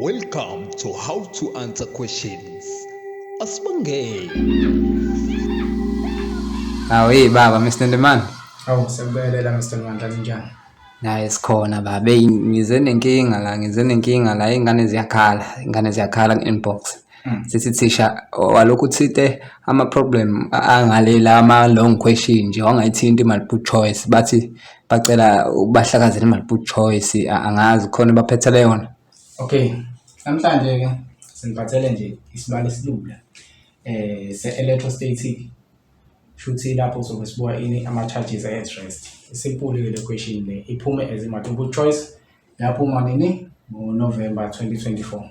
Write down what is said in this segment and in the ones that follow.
Welcome to How to Answer Questions. Asibongeni. Awu hey baba Mr Ndemane. Awu sekubelela Mr Mandla linjani? Naye sikhona baba. Hey ngize nenkinga la, ngize nenkinga la, ingane ziyakhala, ingane ziyakhala inbox. Hmm. Sithi thisha walokhu uthinte ama-problem angale la ama-long question nje wangayithinti i-multiple choice bathi bacela ubahlakazela i-multiple choice angazi khona baphethele yona okay namhlanje-ke sinibathele nje isibalo esilula eh se-electrostatic shuthi lapho sobe sibuka ini ama-charges at rest isimpuli-ke le question le iphume as i-multiple choice yaphuma nini ngo-november 2024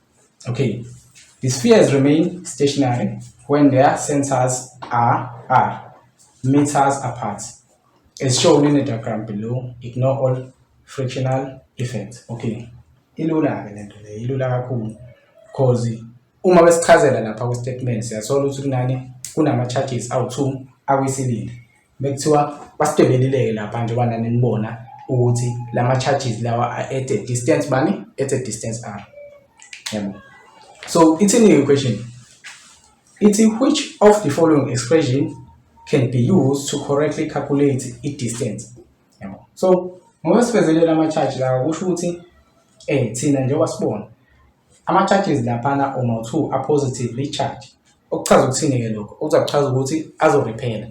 Okay, the spheres remain stationary when their centers are, are meters apart. As shown in the diagram below, ignore all frictional effects. Okay, ilula ke lento le, ilula kakhulu because uma besichazela lapha ku statement siyathola ukuthi kunani kunama charges awu2 akwisilili Mekuthiwa basidwebelile-ke lapha njengoba nani nibona ukuthi la ma-charges lawa are at a distance bani at a distance r yabo so ithini i-equation ithi which of the following expression can be used to correctly calculate i-distance yabo so ngoba sivezelele ama-charge lawa kusho ukuthi um thina njengoba sibona Ama-charges laphana or mawu-two a-positively charge. Okuchaza ukuthini-ke lokho? Okuza kuchaza ukuthi azorephela.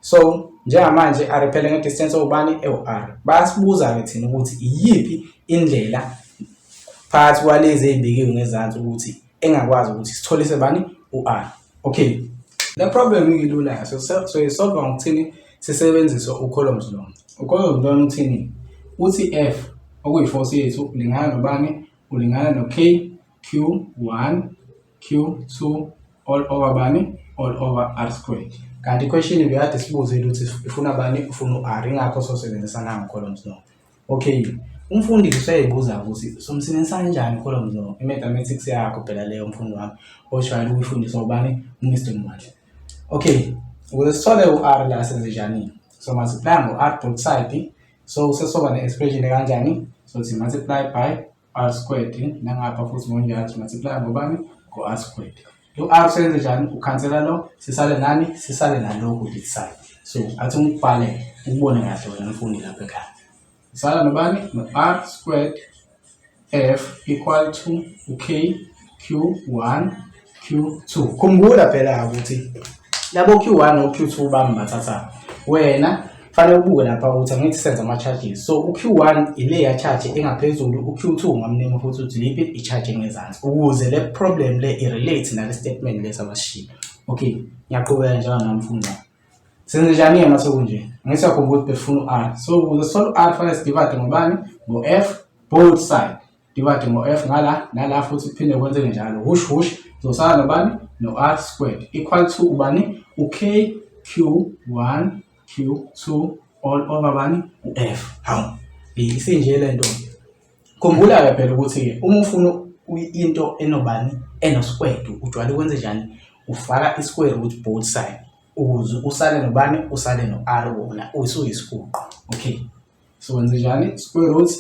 So njengamanje arephele nge-distance ewubani ewu-r. Bayasibuza-ke thina ukuthi iyiphi indlela phakathi kwalezi ey'bekiwe ngezansi ukuthi engakwazi ukuthi sitholise bani u-r. Okay. Le problem ilula-ke soyisolva ngokuthini sisebenzise u-columns long. U-columns long uthini? Uthi F okuyi-force yethu lingana nobani? ulingana no K Q1 Q2 all over bani all over R squared. Kanti question beyade sibuze ukuthi ifuna bani ufuna u-R ingakho sosebenzisa nango columns no. Okay. Umfundisi useyibuza ukuthi somsebenzisa kanjani columns no. I-mathematics yakho phela leyo mfundi wami ojwayele ukuyifundiswa ubani uMr Mwahle. Okay. Ukuze sithole u-R la senze njani? So multiply ngo-R both side so sesoba ne-expression ekanjani so thi multiply by r squared nangapha futhi ngonjalo thi multiply ngobani ngo-r squared lo r senze njani ukhansela lo sisale nani sisale nalokhu this side so athi ungibhale ukubone kahle wena mfundi lapha ekhaya sisala nobani no-r squared F equal to u-K Q1 Q2. Khumbula phela ukuthi labo Q1 no Q2 bami bathatha wena fanele ubuke lapha ukuthi angithi senza ama-charges so u-q1 ile ya-charge engaphezulu u-q2 ungamnema futhi ukuthi liphi i-charge engezansi ukuze le problem le i-relate nale statement lesi abasishiye okay ngiyaqhubeka njalo namfundo Senzenjani-ke uma sekunje? Ngeke siyakhumbula ukuthi besifuna u-r. So ukuze sithole u-r fanele sidivade ngobani? Ngo-f both side. Divade ngo-f ngala nala futhi kuphinde kwenzeke njalo. Hush hush zosala nobani? No-r squared equal to ubani? U-k q1 q2 all over bani? U-f. Hawu isinje le nto. Khumbula-ke phela ukuthi-ke uma ufuna into enobani enoskwedi ujwayele ukwenze njani ufaka iskwere ukuthi both side ukuze usale nobani usale no-r wona usuyisiguqo okay so wenze njani square root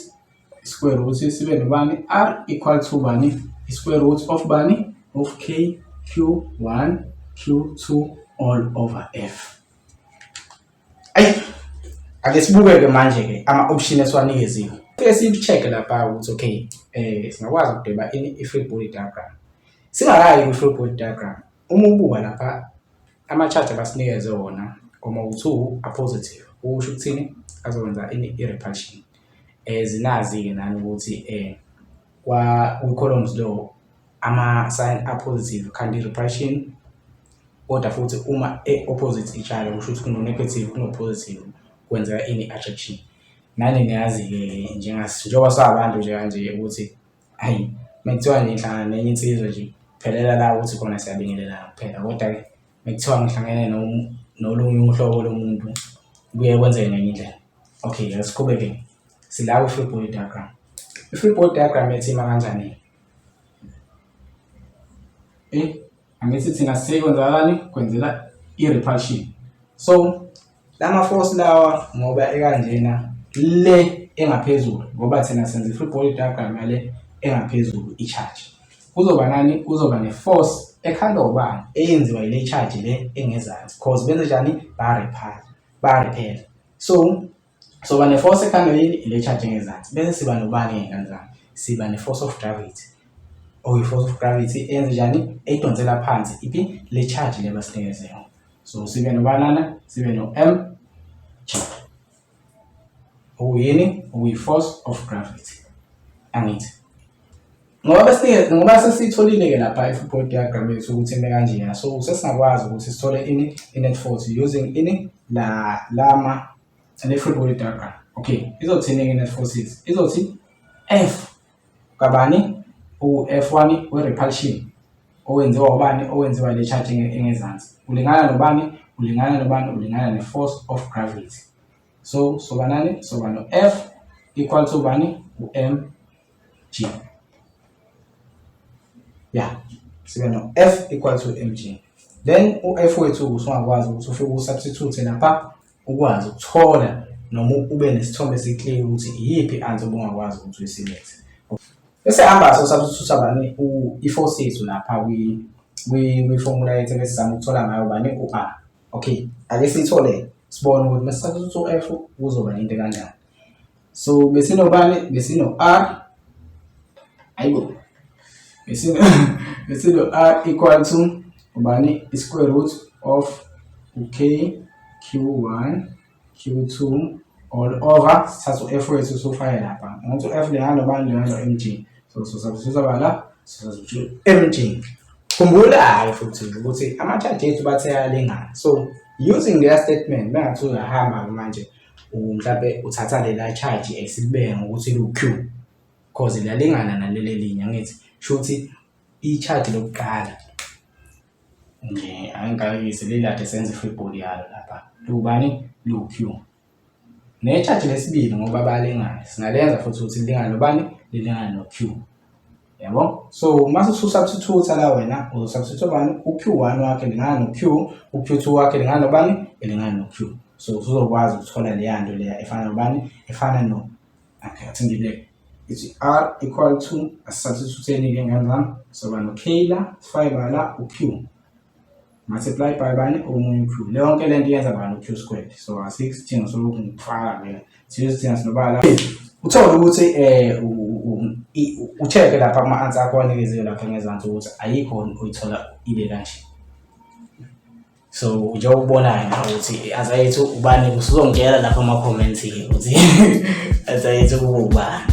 square root sibe nobani r equal to bani square root of bani of k q1 q2 all over f ayi ake sibuke-ke manje-ke ama-option esiwanikeziwe ke siyi-check-e lapha ukuthi okay um singakwazi ukudweba ini i-free body diagram singakayi kwi-free body diagram uma ubuka lapha ama-charge abasinikeze wona koma u-two apositive ukusho ukuthini azokwenza ini i-repulsion um zinazi-ke nani ukuthi um kwi-columns lo ama-sign apositive kanti i-repression kodwa futhi uma e-opposite itshalo kusho ukuthi kuno-negative kuno-positive kwenzeka ini i-attraction nani niyazi-ke njengoba sabantu nje kanje ukuthi hayi uma kuthiwa nje ngihlangana nenye insizwa nje phelela la ukuthi khona siyabingelelana kuphela kodwa-ke uma kuthiwa ngihlangene nolunye uhlobo lomuntu kuye kwenzeke ngenye indlela okay asiqhubeke sila kwi-free body diagram i-free body diagram yathi ima kanjani eh angithi thina sikwenzakalani kwenzela i-repulsion so lama force lawa ngoba ekanjena le engaphezulu ngoba thina senza i-free body diagram yale engaphezulu i-charge kuzoba nani kuzoba ne-force ekhandwa ubani eyenziwa yile charge le engezansi cause benze njani ba-repel ba-repel so soba ne-force ekhanda yini ile charge engezansi bese siba nobani ngey'ngane zami siba ne-force of gravity or i-force of gravity eyenze njani eyidonsela phansi iphi le charge le basinikeze yona so sibe nobanana sibe no-m charge okuyini okuyi-force of gravity angithi ngoba bese ngoba sesitholile ke lapha i-football diagram yethu ukuthi ime kanjena so sesingakwazi ukuthi sithole ini i-net force using ini la lama ne-football diagram okay izothini ke net forces izothi f kabani u-f1 we-repulsion owenziwa ubani owenziwa le charge engezansi ulingana nobani ulingana nobani ulingana ne-force of gravity so sobanani soba no-f equal to bani u-m G. Yeah. Sibe no F equal to mg. Then u-F wethu usungakwazi ukuthi ufike usubstitute lapha ukwazi ukuthola noma ube nesithombe esiclear ukuthi iyiphi i-answer obungakwazi ukuthi uyisilete bese hamba so substitute bani i-force yethu lapha kwi-formula yethu ebesizama ukuthola ngayo bani u-a okay ake siyithole sibone ukuthi mesisubstitute u-f kuzoba into kanjani So besinobani? Besino R. Ayibo. Besino besino R equal to ubani? Square root of UK Q1 Q2 all over sithatha u-F wethu sofake lapha. Ngokuthi u-F lehalo bani lehalo MG. So so substitute bala so substitute MG. Khumbula-ke futhi ukuthi ama-charge ethu bathe ayalingana. So using their statement bengathi uyahamba manje mhlampe uthatha lela charge esilibeke ngokuthi lu-Q cause liyalingana naleli elinye angithi shuthi i-charge lokuqala nje angikayise lelade senze i-football yalo lapha lubani lu-Q ne-charge lesibili ngoba bayalingana singalenza futhi ukuthi lilingane nobani lilingane no-Q. yabo so uma ususubstitute la wena uzosubstitute bani uq1 wakhe lingana noq uq2 wakhe lingana nobani elingana noq so usuzokwazi ukuthola leya nto leya efana nobani efana no akhathi ngibeke ithi r equal to asubstituteni ke ngani zami soba no k la sifake bala uq multiply by bani omunye q le yonke le nto yenza bani u-q squared so asikho isidingo sokuthi ngifaka mina siyoze thina sinobala uthole ukuthi um utheke lapha ama-answer akho anikeziwe lapha ngezansi ukuthi ayikho uyithola ibe kanje so njengoba ubonayo na ukuthi azayethu ubani usuzongitshela lapha ama-comments-ke ukuthi azayethu kuba ubani